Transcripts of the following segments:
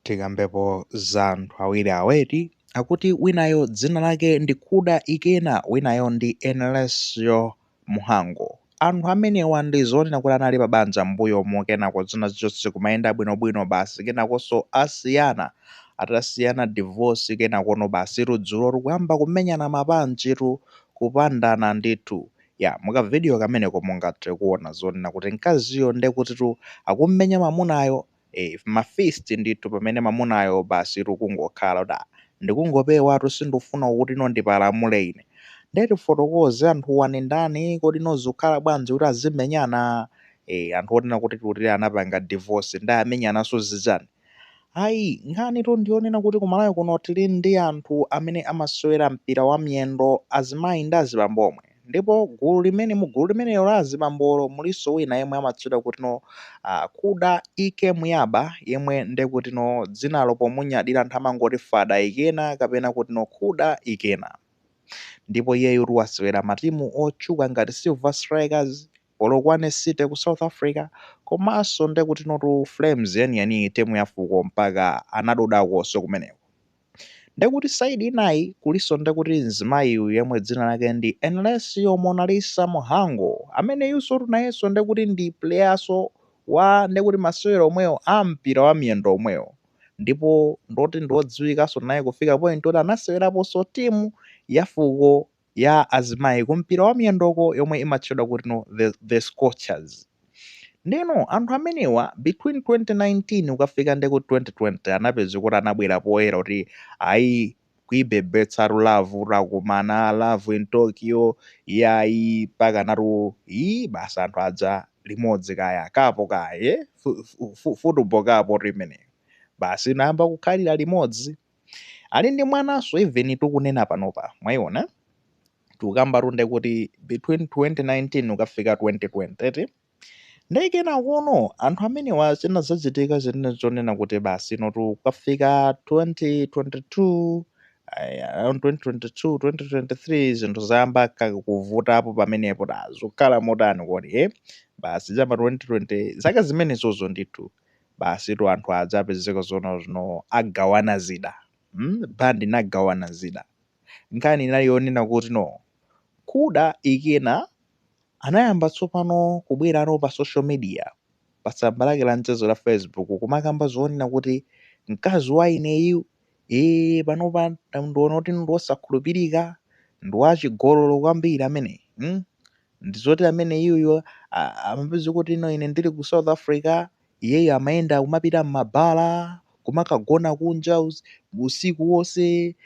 Tikambepo za anthu awiri awa eti, akuti winayo dzina lake ndi Kuda Ikena winayo ndi Enelecio Muhango. Anthu amenewa ndi zonena kuti anali pa banja m'mbuyomu kenako zina zinthu sizikumayenda bwinobwino basi kenakonso asiyana. Atasiyana divorce kenakono basitu dzulo ndikuyamba kumenyana ma punch tu, kupandana ndithu. Ya, mu ka video kameneko mungathe kuona zonena kuti mkaziyo ndekutitu akumumenya mamunayo. eeh ma fist ndithu pamene mamunayo basitu kungokhala kuti aah ndikungopewatu sindifuna kutino ndipalamule ine nde tifotokoze anthuwa nindani kodi no zikukhala bwanji kuti azimenyana eeh anthu onena kuti kuti anapanga divorce nde amenyananso zichani ayi nkhanitu ndiyonena kuti ku Malawi kuno tili ndi anthu amene amasewera mpira wa miyendo azimayi ndi azibambo omwe. ndipo gulu limene mu gulu limenelo la azibambolo mulinso wina yemwe amatchedwa kuti no ah, kuda ike muyaba yemwe nde kuti no dzinalo pomunyadira anthu amangoti fada ikena kapena kuti no kuda ikena ndipo iyeyutu wasewera matimu otchuka ngati silver strikers polokwane city ku south africa komanso nde kuti notu flames yeniyeni timu ya fuko mpaka anadodakonso kumeneko Ndekuti side inayi kuliso ndekuti mzimayi uyu yemwe dzina lake ndi Enelecio Monalisa Muhango ameneyusotu nayeso ndekuti ndi playaso wa ndekuti masewero omwewo a mpira wa miyendo omwewo ndipo ndoti ndiodziwikaso naye kufika point yoti anaseweraposo team ya fuko ya azimayi ku mpira wa miyendoko yomwe imatchedwa kuti no the, the scorchers ndeno anthu amenewa between 2019 ukafika ndekuti 2020 anapezeka kuti anabwera poyera kuti ayi kuibebetsatu love takumana love in tokyo yayi pakanatu ii basi anthu adza limodzi kaya kapo kaye fu- fu- fu- futubo kapo kuti imeneyo basi inayamba kukhalira limodzi ali ndi mwananso even tikunena panopa mwayiona tikukamba tunde kuti between 2019 ukafika 2020 eti ndiye kenakono anthu amenewa zinazachitika zimene zonena kuti basi inotu ukafika 2022 ayi, around 2022 2023 zinthu zayamba ka- kuvutapo pamenepo da zikukhala motani kodi eh basi cha pa 2020 zaka zimenezozo ndithu basitu anthu aja apezeka zoona zino agawana zida mm band inagawana zida nkhani inali yonena kuti no kuda ikena anayamba tsopano kubwerano pa social media pa tsamba lake la mchezo la facebook kumakamba zoonena kuti mkazi wa ineyu ee panopa nda- ndiona kuti ndi wosakhulupirika ndi wachigololo kwambiri amene mm? ndizoti amene iyeyo amapeza kuti no ine ndili ku south africa iyeyo amayenda kumapita m'mabala kumakagona kunja us- usiku wonse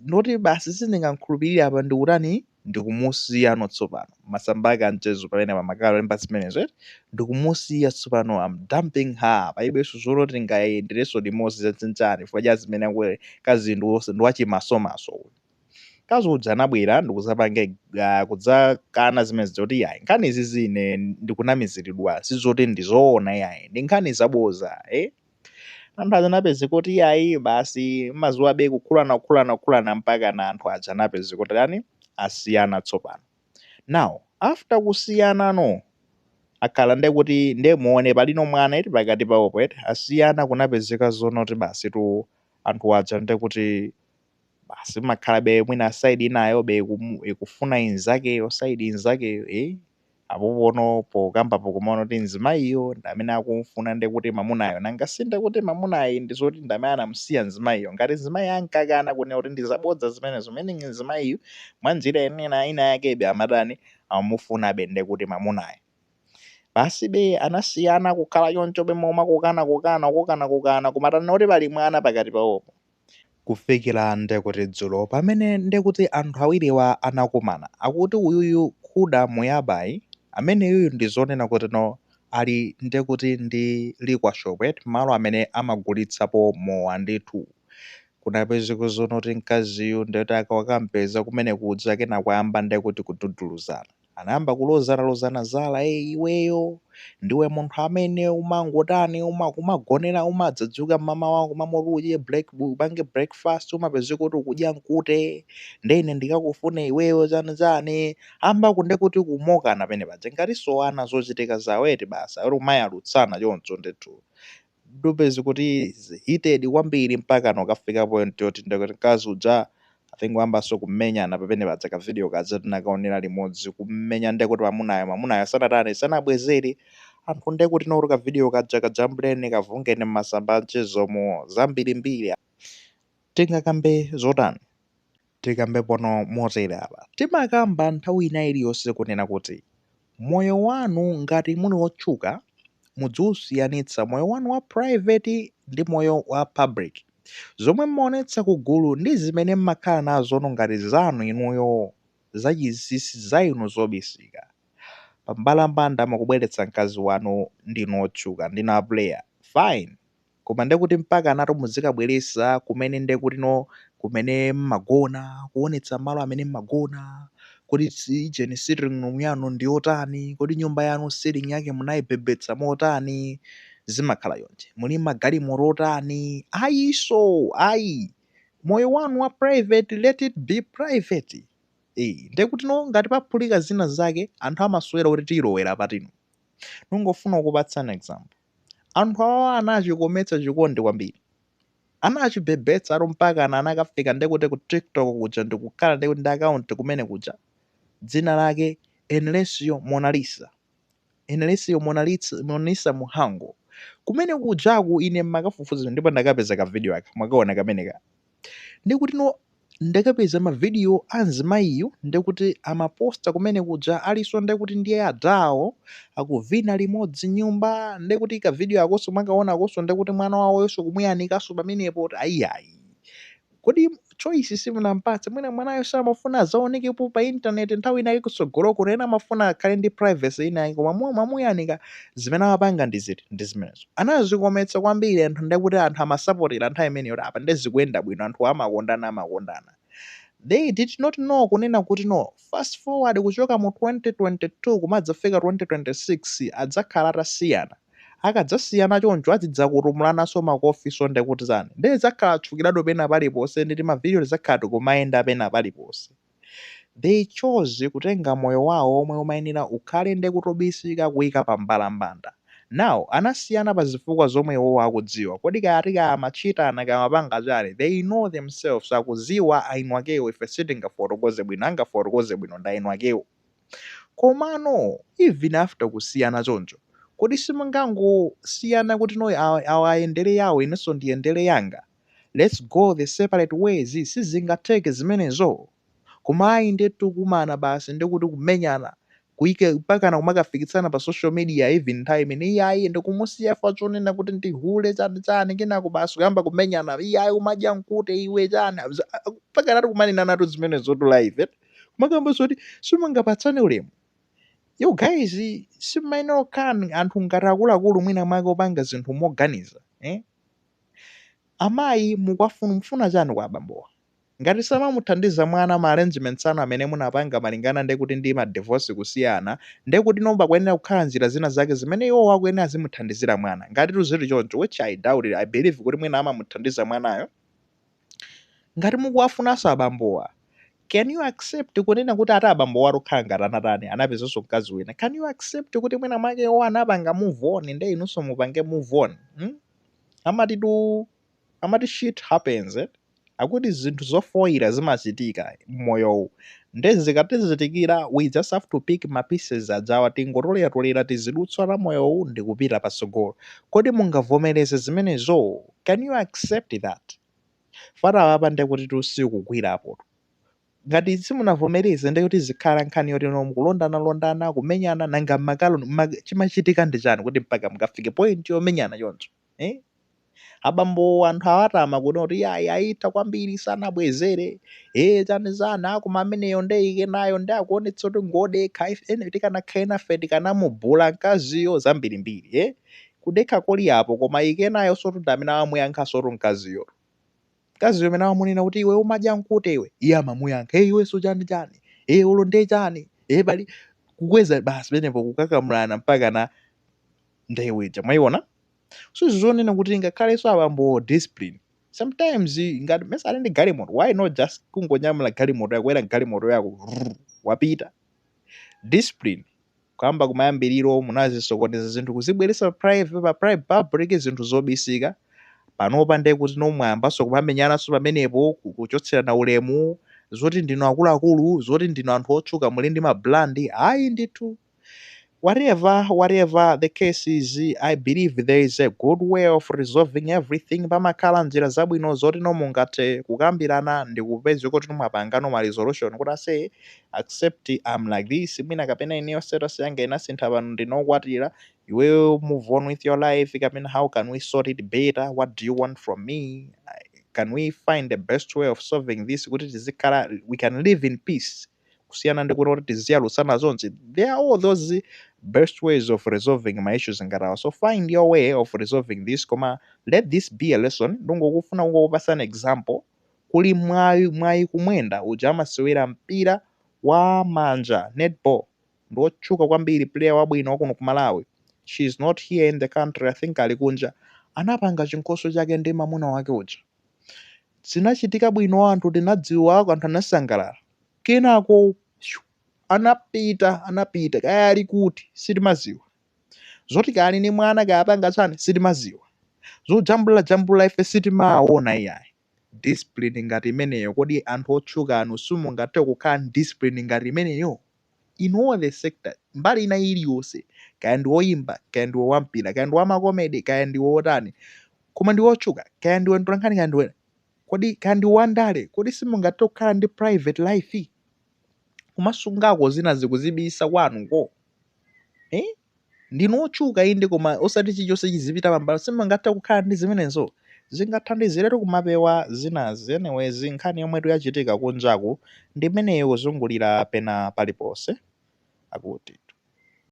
noti basi sindingamkhulupirire apa ndikutani ndikumusiyano tsopano masamba ake a mchezo pamene amakalemba zimenezo eti ndikumusiya tsopano am dumping her palibenso zoti tingayenderenso limodzi za chani chani chifukwa cha zimene akuti mkazi ndi wose- ndi wachimasomaso uyu Mkazi uja anabwera ndikuzapanga uh, kudzakana zimenezo kuti yayi nkhani izizi ine ndikunamiziridwa sizoti ndizoona yayi ndi nkhani zaboza eh? anthu aja anapezeka kuti yayi basi madziwabe kukhulana kukhulana kukhulana mpakana anthu aja anapezeka kuti atani asiyana tsopano now after kusiyana no akhala nde kuti nde muone palino mwana eti pakati pawopo eti asiyana kunapezeka zoona kuti basitu anthu aja nde kuti basi imakhalabe mwina side inayobe ikumu- ikufuna inzakeyo side inzakeyo eh apopo no pokambapo kumaona kuti mzimayiyo ndi amene akumfuna nde kuti mamunayo nanga si nde kuti mamunayi ndi zoti ndi amene anamsiya mzimayiyo ngati mzimayi ankakana kunena kuti ndi zabodza zimenezo meaning mzimayiyu mwa njira ina yakebe amatani amamufunabe nde kuti mamunayo basibe anasiyana kukhala chonchobe momakokana kokana kokana kokana kumatana kuti pali mwana pakati pawopo kufikira ndekuti dzulo pamene ndekuti anthu awiriwa anakumana akuti uyuyu Khuda Muyabayi ameneyuyu ndizonena kuti no ali ndekuti ndi liquor shop eti malo amene amagulitsapo mowa ndithu kunapezeka zoona kuti mkaziyu ndekuti akampeza kumenekuja kenako ayamba ndekuti kududuluzana Anayamba kulozana lozana zala, ee iweyo ndiwe munthu amene umangotani uma, umagonera umadzadzuka mmamawa m'malo moti udye break, upange breakfast umapezeka kuti ukudya mkute nde ine ndikakufune iweyo chani chani ayamba ku- nde kuti kumakokana pamene paja ngatinso ana zochitika zawo eti basi akuti kumayalutsana choncho ndithu Ndupeza kuti heated kwambiri mpakana kukafika point yoti ndekuti mkazi uja I think wayambanso kumenyana pamene paja ka video kaja tinakaonera limodzi kumenya ndekuti mamunayo mamunayo sanatani sanabwezere anthu ndekuti nokuti ka video kaja kajambuleni kavungeni mmasamba a mchezomo zambirimbiri tingakambe zotani Tikambe pano motere apa. Timakamba nthawi ina iliyonse kunena kuti moyo wanu ngati muli otchuka mudziusiyanitsa moyo wanu wa private ndi moyo wa public. Zomwe mmaonetsa ku gulu ndizimene mmakhala nazono ngati zanu inuyo za chinsinsi za inu zobisika. Pambalambanda mukubweretsa mkazi wanu ndinu otchuka, ndinu a player. Fine. koma ndekuti mpakanatu muzikabweresa kumene ndekuti no kumene mmagona kuonetsa malo amene mmagona kodi si- ujeni sitting room yanu ndi yotani kodi nyumba yanu ceiling yake munaibhebhetsa motani zimakhala choncho muli magalimoto otani ayiso ayi moyo wanu wa private let it be private Eh, ndekuti no ngati paphulika zina zake anthu amasowera kuti tiyilowera pati no ningofuna kukupatsani example Anthu awawa anachikometsa chikondi kwambiri. Anachibhebhetsatu mpakana anakafika ndekuti ku TikTok kuja ndikukhala ndekuti ndi account kumene kuja. Dzina lake Enlecio Monalisa. Enlecio Monalisa Muhango. Kumene kujaku ine mmakafufuza ndipo ndakapeza ka video aka mwakaona kameneka. Ndekuti no ndakapeza ma video a mzimayiyu ndekuti amaposta kumene kuja aliso ndekuti ndiye adhawo akuvina limodzi nyumba ndekuti ka video akoso mwakaona akoso ndekuti mwana wawoyoso kumuyanikaso pamenepo kuti ayiyayi kodi choice simunampatse mwina mwanayo samafuna azaonekepo pa internet nthawi inake kusogolo kuno ena amafuna akhale ndi privacy inake koma mwa mwamuyanika zimene amapanga ndiziti ndi zimenezo Anazikometsa kwambiri anthu nde kuti anthu amasapotera nthawi imeneyo kuti apa nde zikuyenda bwino anthuwa amakondana amakondana they did not know kunena kuti no fast forward kuchoka mu 2022 kumadzafika 2026 adzakhala atasiyana akadzasiyana choncho azidzakutumulananso makofiso ndekuti zani nde adzakhala atchukiratu pena paliponse ndi timavideo tidzakhala tikumayenda pena paliponse they chose kutenga moyo wawo omwe umayenera ukhale nde kuti obisika kuika pa mbalambanda now anasiyana pa zifukwa zomwe iwowo akudziwa kodi kaya ati kaya amatchitana kaya amapanga chani they know themselves akuziwa eni akewo ife sitingafotokoze bwino angafotokoze bwino ndi eni akewo komano even after kusiyana choncho kodi simungangosiyana kuti no awa ayendere yawo inenso ndiyendere yanga Let's go the separate ways sizingatheke zimenezo koma ayi ndithu kumana basi ndikuti kumenyana kuike mpakana kumakafikitsana pa social media even nthawi imene iyayi ndikumusiya chifukwa chonena kuti ndi hule chani chani kenako basi kuyamba kumenyana iyayi umadya mkute iwe chani Za- a- a- mpakanatu kumanenanatu zimenezotu live eh? kumakamba zoti simungapatsane ulemu you guys simayenera kukhala anthu ngati akuluakulu mwina mwake opanga zinthu moganiza eh? Amayi mukwafun mufuna chani kwa abambowa? Ngati samamuthandiza mwana ma arrangements anu amene munapanga malingana nde kuti ndima divorce kusiyana nde kuti no pakuyenera kukhala njira zina zake zimene iwowo akuyenera azimuthandizira mwana, ngatitu zili choncho which I doubt it, I believe kuti mwina amamuthandiza mwanayo. ngati mukuwafunanso abambowa can you accept kunena kuti ati abambowa akukhala ngati anatani anapezanso mkazi wina can you accept kuti mwina mwake iwo anapanga move on nde inunso mupange move on hmm? amati tu amati shit happens eh? akuti zinthu zofoyira zimachitika mmoyowu nde zikatizitikira we just have to pick ma pieces ajawa tingotoleratolera tizidutswa ta moyowu ndikupita patsogolo kodi mungavomereze zimenezo can you accept that fana apa ndekuti tusikugwirapotu ngati simunavomereze ndekuti zikhala nkhani yoti no mukulondana londana kumenyana nanga makalo ma- chimachitika ndi chani kuti mpaka mukafike point yomenyana choncho eh? abambo anthu awatama kuno kuti yayi ayitha kwambiri sanabwezere e chani chani koma ameneyo ndeike nayo ndi akuonetsa kuti ngodekha ife ene tikanakhala nafe tikanamubhula mkaziyo zambirimbiri e Kudekha koli apo koma ike nayosotu ndi amene amamuyankhasotu mkaziyotu. Mkaziyo amene amamunena kuti iwe umadya mkute iwe, iye amamuyankha ee iwenso chani chani, ee olo nde chani, ee pali. kukweza basi pamenepo kukakamulana mpakana ndewu ija mwayiona. So zonena kuti ngakhalenso abambowo discipline sometimes ngati mesa ali ndi galimoto why not just kungonyamula galimoto yako kwera mgalimoto yako wrruu wapita. Discipline. kuyamba kumayambiriro munazisokoneza zinthu kuzibweretsa pa private pa private public zinthu zobisika panopa ndiye kuti no mwayambanso kumamenyananso pamenepo ku- kuchotserana ulemu zoti ndinu akuluakulu zoti ndinu anthu otchuka muli ndi mabrand ayi ndithu whatever whatever the case is i believe there is a good way of resolving everything pamakhala njira zabwino zoti no mungathe kukambirana ndi kupeza kuti mwapangano ma resolution kuti ase Accept I'm like this mwina kapena ineyo status yanga inasintha pano ndine okwatira, iweyo move on with your life kapena how can we sort it better, what do you want from me, can we find a best way of solving this kuti tizikhala we can live in peace kusiyana ndi kunena kuti tiziyalutsana zonse. There are all those best ways of resolving ma issues ngati awa. So find your way of resolving this koma let this be a lesson ndingofuna kungokupatsa an example kuli Mwawi Mwawi Kumwenda uja amasewera mpira wa manja netball ndiwotchuka kwambiri player wabwino wakuno ku Malawi she is not here in the country I think ali kunja anapanga chinkhoswe chake ndi mamuna wake uja zinachitika bwino anthu tinadziwa anthu anasangalala kenako shoo, anapita anapita kaya ali kuti sitimadziwa. zoti kaya ali ndi mwana kaya apanga chani sitimaziwa zojambulira jambulira ife sitimaona iyayi discipline ngati imeneyo kodi anthu otchuka anu simungathe kukhala ndi discipline ngati imeneyo in all the sector mbali ina iliyonse kaya ndi woyimba kaya ndiwe wampira kaya ndi wamakomedi kaya ndiwe wotani koma ndi wotchuka kaya ndiwe mtolankhani kaya ndiwe kodi kaya ndi wandale kodi simungathe kukhala ndi private life kumasungako zina zikuzibisa kwanuko Eh? Ndinu otchuka inde koma osati chilichonse chizipita pambali. Simungathe kukhala ndi zimenezo. Zingathandiziretu kumapewa zinazi. Anyways, nkhani yomwetu yachitika kunjaku ndi imeneyo kuzungulira pena paliponse. Akuti.